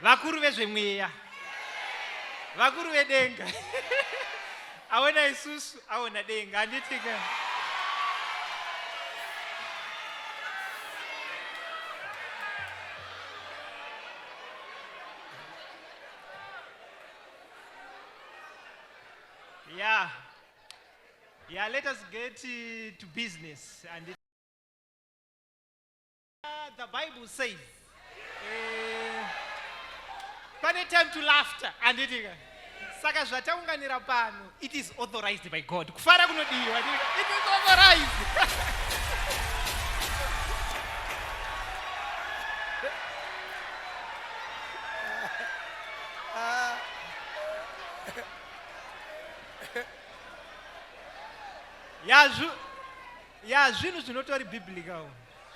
vakuru vezvemweya vakuru vedenga aona isusu aona denga anditika yeah yeah let us get uh, to business and Uh, the Bible says, eh, pane time to laughter, handiti ka? Saka zvataunganira pano, it is authorized by God. Kufara kunodiwa, handiti ka? It is authorized. Ya zvu- ya zvinhu zvinotori biblical.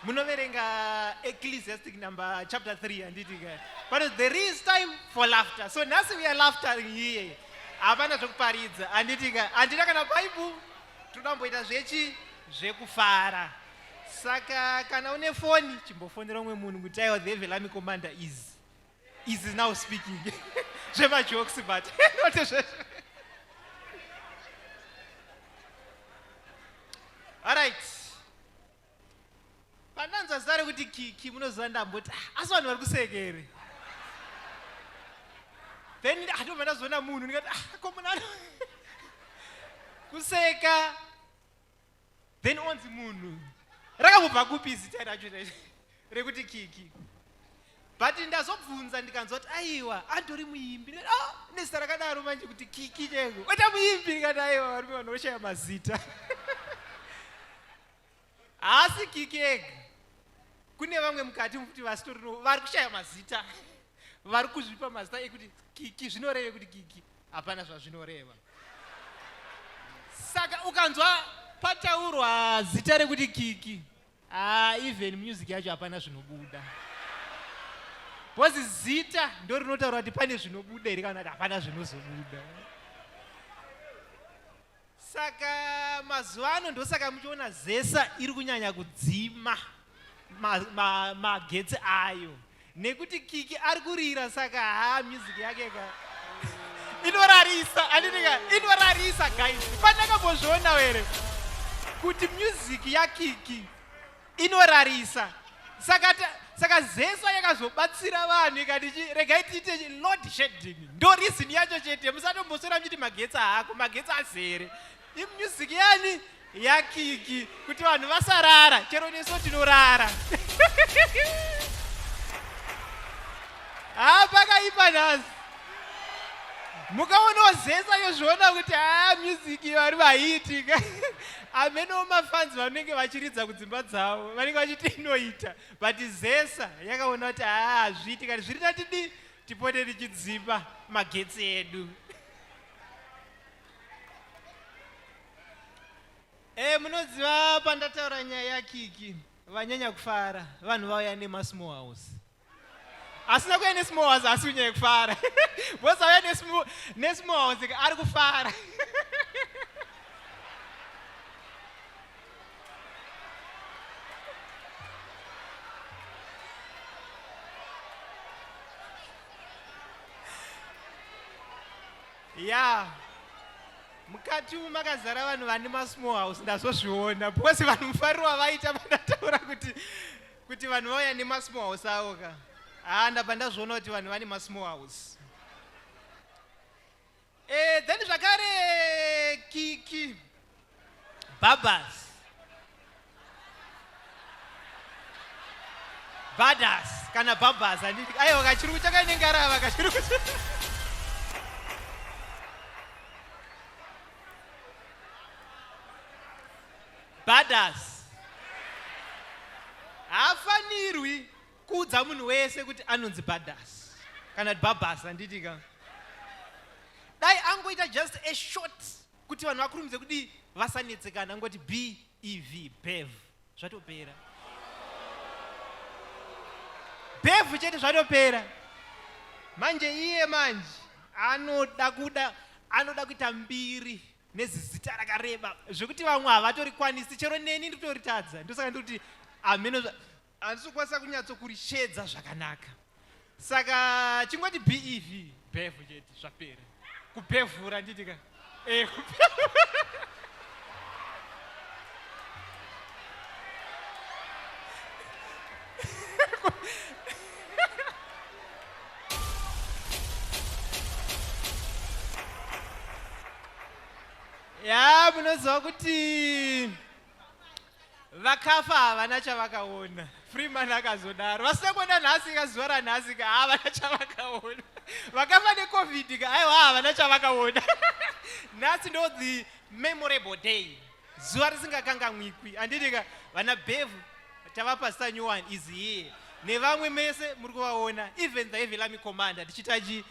munoverenga ecclesiastic number chapter 3 handiti ka but there is time for laughter so nhasi we are laughter here hapana zvekuparidza handiti ka handina kana bible tinoda kumboita zvechi zvekufara saka kana une foni chimbofonera umwe munhu kuti aiwa the evelami commander is is now speaking zvemajokes but not zvese pandanzwa zita rekuti kiki munoziva ndamboti ah, asi vanhu vari kusekere then atobva ndazoona munhu ndikati ah, ko munhu ano kuseka then onzi munhu rakambobva kupi zita racho rekuti kiki but ndazobvunza ndikanzwa kuti aiwa andori muimbi oh, nezita rakadaro manje kuti kiki cheko oita muimbi ndikati aiwa varume vanoshaya mazita haasi kiki ega kune vamwe mukati mufuti vasitorino vari kushaya mazita vari kuzvipa mazita ekuti kiki zvinoreve kuti kiki hapana zvazvinoreva saka ukanzwa pataurwa zita rekuti kiki ah, even music yacho hapana zvinobuda bhozi zita ndo rinotaura kuti pane zvinobuda here kana kuti hapana zvinozobuda Saka mazuva ano ndosaka muchiona zesa iri kunyanya kudzima magetsi ma, ma ayo nekuti kiki ari kurira saka haa music yake ka inorarisa andinika inorarisa guys pandakambozviona here kuti music yakiki inorarisa saka saka zesa yakazobatsira vanhu ikati regai tiite load shedding ndo reason yacho chete musatomboswera muchiti magetsi haako magetsi azere imusic yani yakiki kuti vanhu vasarara chero neso tinorara haa pakaipa nhasi mukaona ozesa yozviona kuti haa music vari vaiitika amenowo mafanzi vanenge vachiridza kudzimba dzavo vanenge vachiti inoita but zesa yakaona kuti haa hazviiti kani zviri tatidi tipote tichidzipa magetsi edu e munoziva pandataura nyaya yakiki vanyanya kufara vanhu vauya nemasmall house asi nakuya nesmoas asi unyaya kufara bhosa uya nesmoas ari kufara ya mukati umu makazara vanhu vane masmall house ndazozviona because vanhu mufariro wavaita vanataura kuti Kuti vanhu vauya nemasmall house avo ka. Haa ndabva ndazviona kuti vanhu vane masmall house. Eh, then zvakare kiki. Babas. Badas kana babas handiti. Aiwa kachirungu chakaine ngarava kachirungu. Badass. Haafanirwi kuudza munhu wese kuti anonzi badass. Kana babas handiti ka. Dai angoita just a short kuti vanhu vakurumidze kudii vasanetsekana angoti BEV bev zvatopera. Bev chete zvatopera. Manje iye manje anoda kuda anoda kuita mbiri nezizita rakareba zvekuti vamwe havatorikwanisi chero neni nditoritadza ndosaka ndikuti hameno handisi kukwanisa kunyatsokurishedza zvakanaka saka chingoti bev bev chete zvapera kubhevhura nditi ka eh, ya munoziva kuti vakafa havana chavakaona freeman akazodaro vasina kuona nhasi ka zuva ranhasi ka havana chavakaona vakafa necovid ka aiwa havana chavakaona nhasi ndo the memorable day zuva risingakangamwikwi anditika vana bevu tavapa star new one is here nevamwe mese muri kuvaona even the evelami commander tichitachi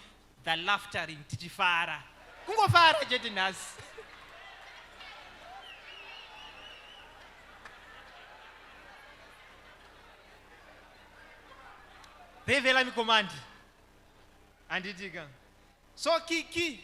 the laftering tichifara kungofara chete nhasi revelami command anditika so kiki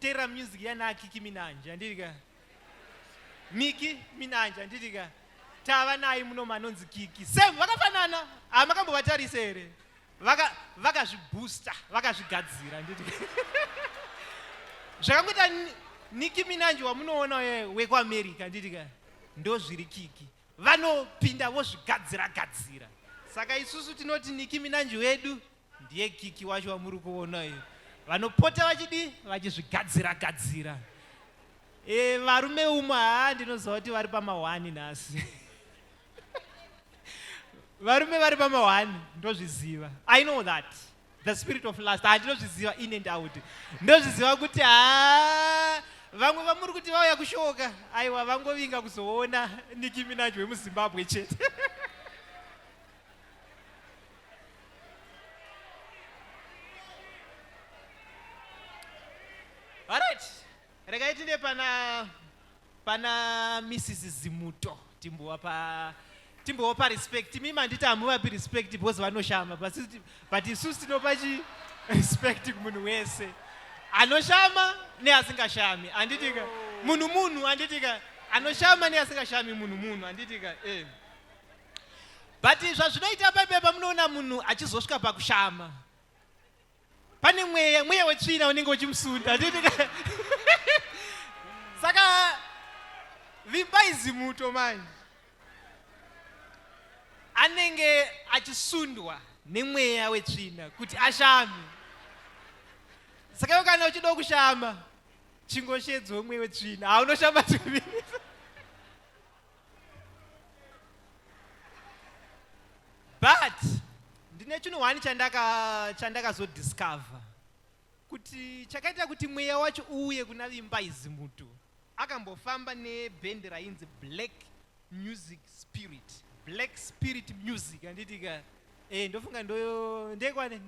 Tera music yana akiki minanje handiti ka miki minanje handiti ka tava naye muno manonzi kiki same vakafanana hamakambovatarise ah, here vakazvibooster vaka vakazvigadzira handiti zvakangoita niki minanje wamunoona wekuamerica handiti ka ndo zviri kiki vanopinda vozvigadzira gadzira saka isusu tinoti niki minanje wedu Ndiye Kiki wacho wamuri kuona uyu. Vanopota vachidi vachizvigadzira gadzira. E, varume umwe haa ndinoziva kuti vari pamahwani nhasi. varume vari pamahwani ndozviziva. I know that. The spirit of last. Ah, ndinozviziva in and out. Ndozviziva kuti haa vamwe vamuri kuti vauya kushoka aiwa vangovinga kuzoona nikiminaji wemuzimbabwe chete Alright. Regai tinde pana pana Mrs Zimuto timbowa pa timbowa pa respect imi manditi hamuvapi respect because vanoshama but isi- but isusu tinopa chi respect kumunhu wese anoshama neasingashami anditika munhu munhu anditika anoshama neasingashami munhu munhu anditika eh. but zvazvinoita paipai pamunoona munhu achizosvika pakushama pane mweya mweya wetsvina unenge uchimusunda saka vimbai zimuto manje anenge achisundwa nemweya wetsvina kuti ashame saka ivo kana uchidawo kushama chingoshedzwa umwe wetsvina haunoshama tuviri but ndine chinhu one chandakazodiscover kuti chakaita kuti mweya wacho uuye kuna vimba izi mutu akambofamba nebhendi rainzi black music spirit black spirit music anditika e, eh, ndofunga ndoyo ndekwane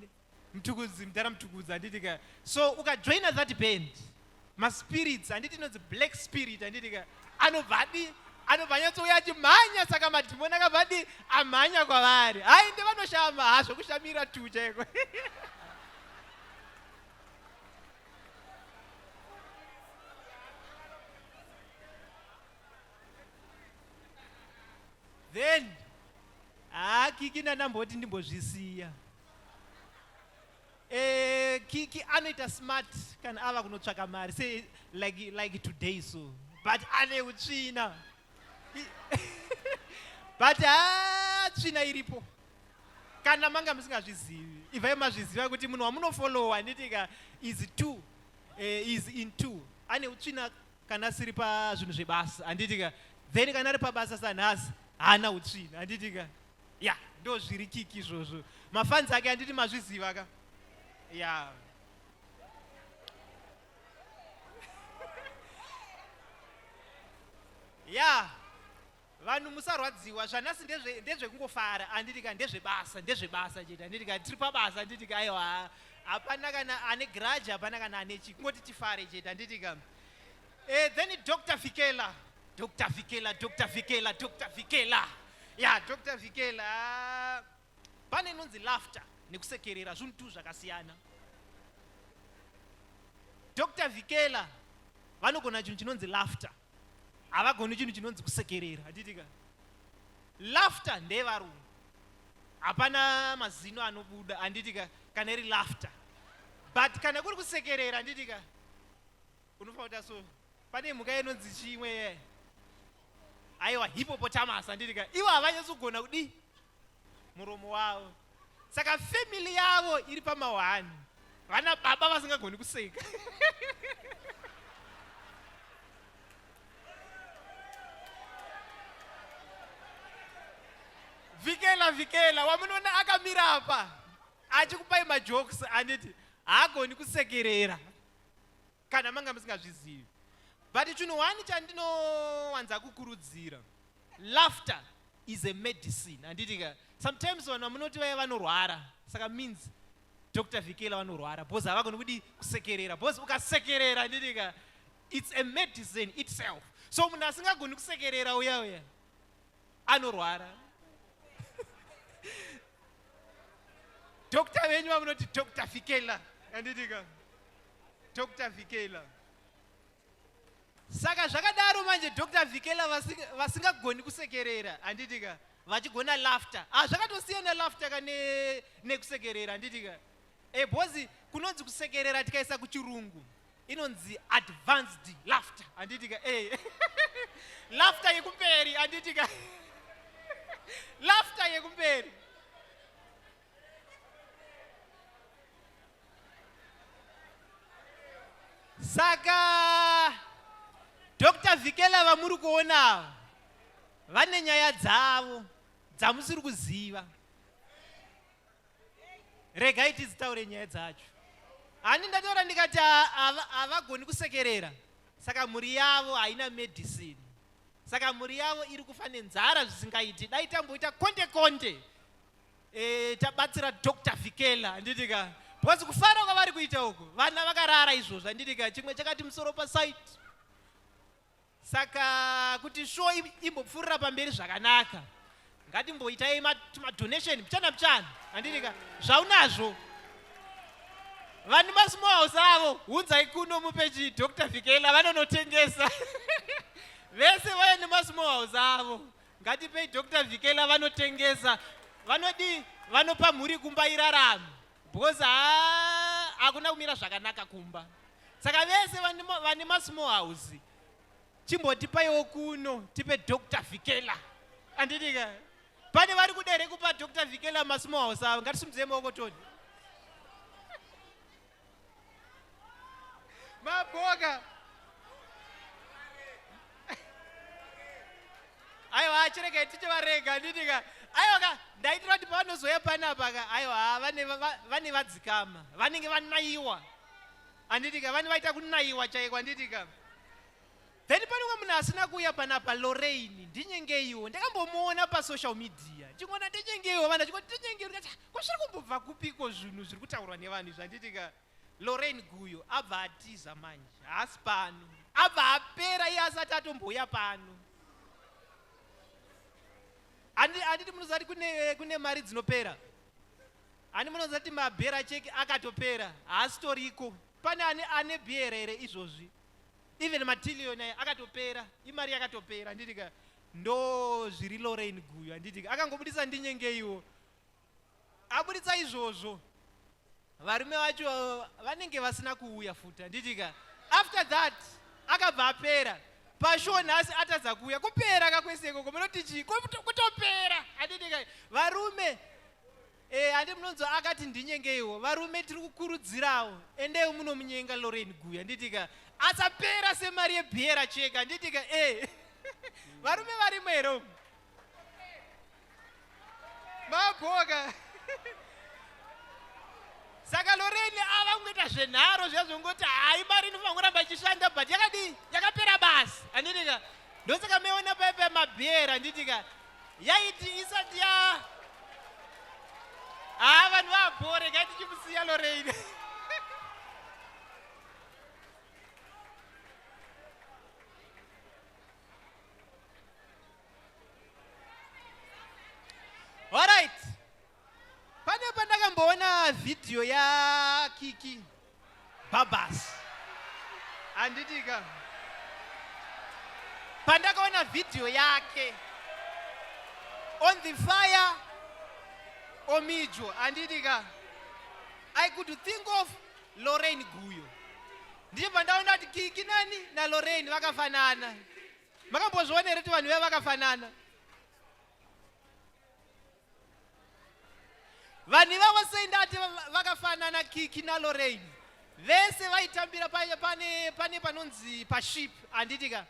mtukudzi mdara mtukudzi handiti ka so ukajoina that band maspirits handiti inonzi black spirit handiti ka anobvadi anobva anyatsouya achimhanya saka madhimoni akabvadi amhanya kwavari hai ndi vanoshama ha zvekushamira tu chaiko then haakiki ndanamboti ndimbozvisiya Eh, kiki anoita smart kana ava kunotsvaka mari se like, like today so but ane utsvina but ha tsvina iripo kana manga musingazvizivi ivai mazviziva kuti munhu wamunofolowa handitika is two eh, is in two ane utsvina kana asiri pazvinhu zvebasa handitika then kana ari pabasa sanhasi haana utsvina handitika ya ndozviri kiki izvozvo mafanzi ake anditi mazviziva ka ya ya vanhu musarwadziwa zvanhasi ndezvekungofara ndezve anditi ka ndezvebasa ndezvebasa chete anditi ka tiri pabasa anditi ka aiwa hapana kana ane garaji hapana kana ane chi kungoti tifare chete anditi ka e, then dr fikela Dr. Vikela, Dr. Vikela, Dr. Vikela. Yeah, Dr. Vikela. Pane nonzi laughter nekusekerera zvinhu tu zvakasiyana. Dr. Vikela vanogona chinhu chinonzi laughter. Havagoni chinhu chinonzi kusekerera. Hatitika. Laughter ndeyevarungu. Hapana mazino anobuda handitika kana iri laughter. But kana kuri kusekerera handitika. Unofa uta so. Pane mhuka inonzi chimwe ye. Aiwa hippopotamus andiri ka. Ivo havanyasogona kudi muromo wavo. Saka family yavo iri pamawani. Vana baba vasingagoni kuseka. vikela vikela wamunoona akamira apa achikupai majokes anditi haagoni kusekerera kana manga musingazvizivi but chinhu one chandinowanza kukurudzira laughter is a medicine handiti ka sometimes vanhu vamunoti vaya vanorwara saka means dr vikela vanorwara bcause havagoni kudi kusekerera bcause ukasekerera handiti ka it's a medicine itself so munhu asingagoni kusekerera uya uya anorwara dokta venyu vamunoti dokta fikela anditika dokta fikela saka zvakadaro manje dokta vikela vasingagoni kusekerera handitika vachigona laughter ah zvakatosiyana laughter ka nekusekerera handitika e eh, bozi kunonzi kusekerera tikaisa kuchirungu inonzi advanced laughter anditi ka eh laughter yekumberi anditi ka laughter yekumberi saka dr vikela vamuri kuonawo vane nyaya dzavo dzamusiri kuziva regai tizitaure nyaya dzacho handi ndataura ndikati havagoni kusekerera saka mhuri yavo haina medicine saka mhuri yavo iri kufa nenzara zvisingaiti dai tamboita konde konde e, tabatsira dr vikela handitika because kufara kwavari kuita uku vana vakarara izvozvo handitika chimwe chakati musoro pasite Saka kuti show imbopfuurira pamberi zvakanaka ngatimboitai madonation mchana mchana andirika zvaunazvo vani masmouse avo hunzai kuno mupeji dr vikela vanonotengesa vese vaya nemasmouse avo ngatipei dr vikela vanotengesa vanodii vanopa mhuri kumba irarama because haa hakuna kumira zvakanaka kumba saka vese vane masmall house chimbotipaiwo kuno tipe dr vikela anditika pane vari kuda here kupa dr vikela masmall house avo ngatisumudze maoko toni Maboga. Aiwa achirega itiche varega ndinika. Aiwa ka ndaitira kuti pavanozoya panapa ka aiwa vane vane vadzikama vanenge vanaiwa. Anditika vane vaita kunaiwa chaiko anditika. Then pane umwe munhu asina kuuya panapa Lorraine ndinyengeiwo ndakambomuona pasocial media ndichingoona ndinyengeiwo vanhu vachingoti ndinyengeiwo ndikati "Ah, ko zviri kumbobva kupiko zvinhu zviri kutaurwa nevanhu izvi handitika Lorraine Guyo abva atiza manje haasi pano abva apera iye asati atombouya pano Handi- handiti munoziva kuti kune, kune mari dzinopera handi munoziva kuti mabhera cheki akatopera haasitoriko pane ane, ane bhera here izvozvi even matillion ayo akatopera imari yakatopera handiti ka ndo zviri lorain guyo handiti ka akangobudisa ndinyengeiwo abuditsa izvozvo varume vacho vanenge vasina kuuya futi handiti ka after that akabva apera pashow nhasi atadza kuuya kupera kakwese ikoko munoti chii kutopera handiti ka varume Eh hande munonzwa akati ndinyengeiwo varume tiri kukurudzirawo endai munomunyenga Lorraine Guya handitika asapera semari yebhiera cheka handitika eh varume varimo here umu mabhoka saka Lorraine ava kungoita zvenharo zviya zvongoti hayi mari inofanira kuramba ichishanda but yakadii yakapera basi handitika ndosaka meona paipa mabhiera handitika yaiti isati ya haa vanhu vabhore gai tichimusiya loreine Pane pandakamboona video ya Kiki Babas. Anditika. Pandakaona video yake on the fire omijo anditika. I could think of Lorraine Guyo. Ndiye pandaona kuti Kiki nani na Lorraine vakafanana. Makambozviona here kuti vanhu vaya vakafanana? vanhu ivavo sei ndati vakafanana kiki nalorain vese vaitambira pane pane panonzi paship handiti ka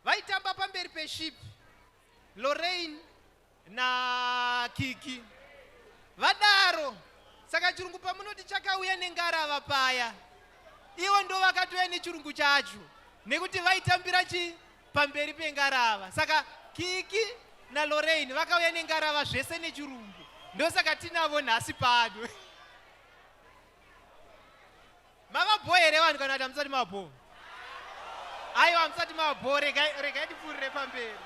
vaitamba pamberi peship lorain na kiki vadaro saka chirungu pamunoti chakauya nengarava paya ivo ndo vakatouya nechirungu chacho nekuti vaitambira chi pamberi pengarava saka kiki nalorain vakauya nengarava zvese nechirungu ndosaka tinavo nhasi pano mavabho here vanhu kana kuti hamusati mavabho aiwa hamusati mavabho regai tipfuurire pamberi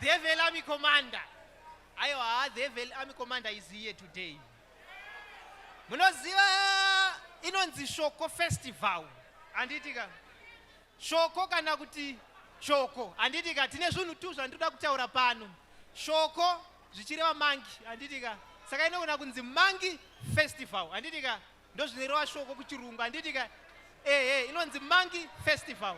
develami commander Aiwa haa the evil army commander is here today. Munoziva inonzi shoko festival handiti ka shoko kana kuti shoko handiti ka tine zvinhu tu zvandinoda kutaura pano shoko zvichireva mangi handiti ka saka inogona kunzi mangi festival handiti ka Ndozvinoreva shoko kuchirungu handiti ka ehe inonzi monkey festival.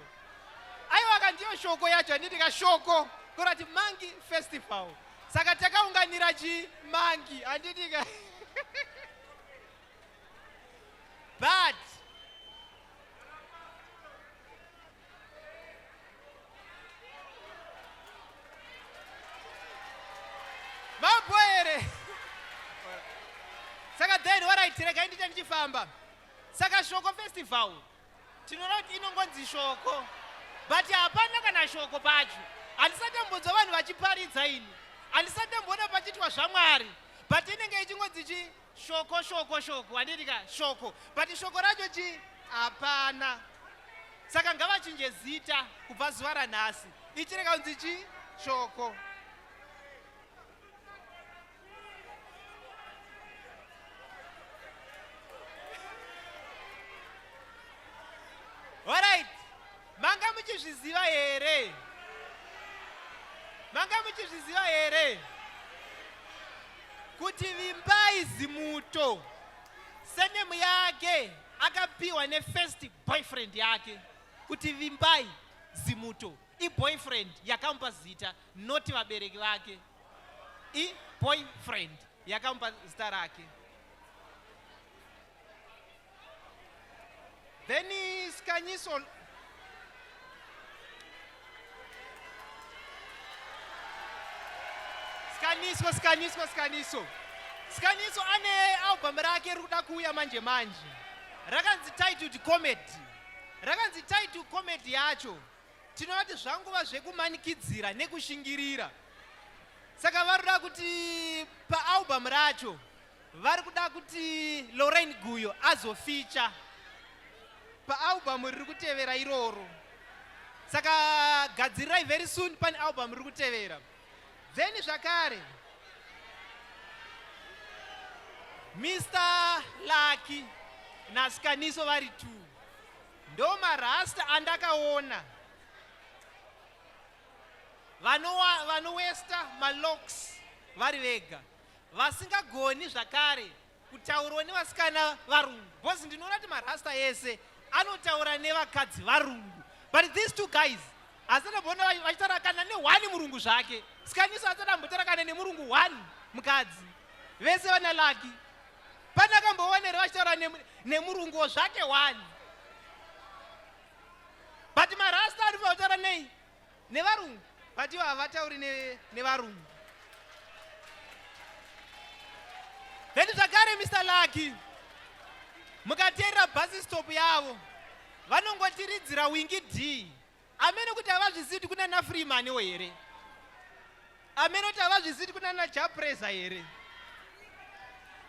Aiwa ka ndiyo shoko yacho handiti ka shoko kurati monkey festival. Saka takaunganira chi monkey handiti ka but mambo here saka then waraitirega indiita ndichifamba saka shoko festival tinoona kuti inongonzi shoko but hapana kana shoko pacho handisati ambodzwa vanhu vachiparidza ini handisati amboona pachiitwa zvamwari but inenge ichingonzi chi Shoko shoko shoko handiti ka shoko but shoko racho chi hapana saka ngavachinje zita kubva zuva ranhasi ichireka kunzi chi shoko Manga muchizviziva here? Manga muchizviziva here? Kuti Vimbai Zimuto senemu yake akapiwa nefirst boyfriend yake kuti Vimbai Zimuto iboyfriend yakamupa zita not vabereki vake iboyfriend yakamupa zita rake Then Skanyiso Skanyiso Skanyiso Skanyiso Skanyiso ane album rake riri kuda kuuya manje manje rakanzi titled comedy rakanzi titled comedy yacho tinoti zvanguva zvekumanikidzira nekushingirira saka varoda kuti paalbum racho Vari kuda kuti Lorraine Guyo azoficha paalbum riri kutevera iroro. Saka gadzirirai very soon pane album riri kutevera. Then zvakare Mr Lucky naSikaniso vari two. Ndo marasta andakaona vanowesta malocks vari vega. vasingagoni zvakare kutaurwa nevasikana varungu because ndinoona kuti marasta ese anotaura nevakadzi varungu but these two guys asadambona vachitarakana nehwani murungu zvake sikaniso asadambotarakana nemurungu hwani mukadzi vese vana laki pane akamboonere vachitaura nemurunguwo zvake hwani but marasta anofana kutaura nei nevarungu but ivo havatauri nevarungu ne then zvakare mr lucky mukateerera bhasi stop yavo vanongotiridzira wingi d amene kuti havazvizivi kuti kunana freemaniwo here amene kuti havazvisiri kunana japresa here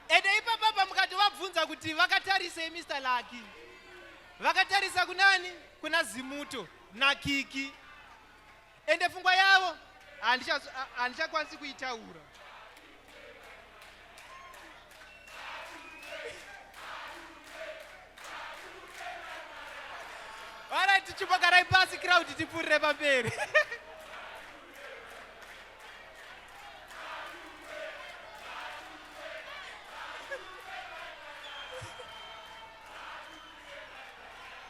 ende ipapapa mukati vabvunza kuti vakatarisei mr laki vakatarisa kunani kuna zimuto nakiki ende fungwa yavo handichakwanisi kuitaura vara tichipokarai pasi crowd tipfuurire pamberi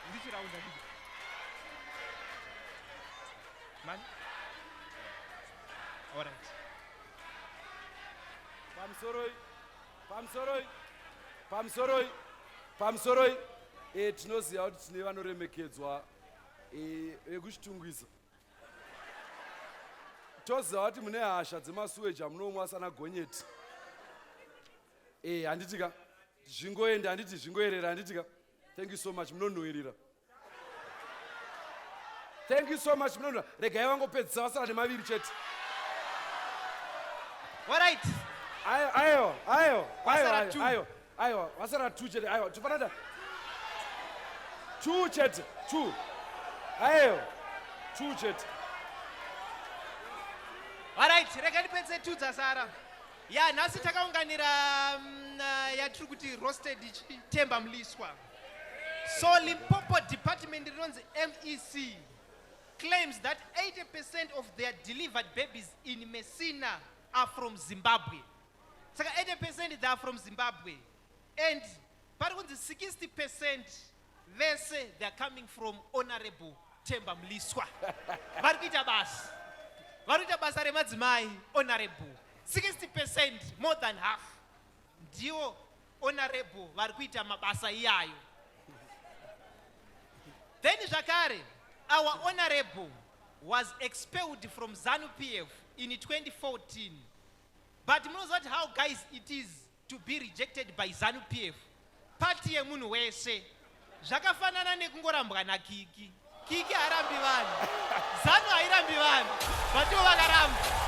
ndichiraunda ndii mani orit pamusoroi pamusoroi pamusoroi pamusoroi e, tinoziva kuti tine vanoremekedzwa e, vekuchitungwiza e, toziva vati mune hasha dzemasuweji amunomwa asana gonyeti e eh, handiti ka zvingoenda handiti zvingoerera handiti ka thank you so much munonhuwirira thank you so much munonhuwira regai vangopedzisa vasara nemaviri chete All right. Ayo, ayo, ayo, ayo, ayo, ayo. aiwa vasara two chete aiwa tifanada two chete two aiwa two chete alright rega ndipedze two dzasara ya nhasi takaunganira mm, uh, yatiri kuti roasted chitemba mliswa so limpopo department rinonzi mec claims that 80 percent of their delivered babies in messina are from zimbabwe Saka 80 percent they are from Zimbabwe and pari kunzi 60 percent vese they are coming from honorable Temba Mliswa. Vari kuita basa. Vari kuita basa remadzimai honorable. 60 percent more than half. Ndiwo honorable vari kuita mabasa iyayo. Then zvakare our honorable was expelled from ZANU PF in 2014 But munoziva kuti how guys it is to be rejected by zanu pf pati yemunhu wese zvakafanana nekungorambwa nakiki kiki haarambi vanhu zanu hairambi vanhu vatiwo vakaramba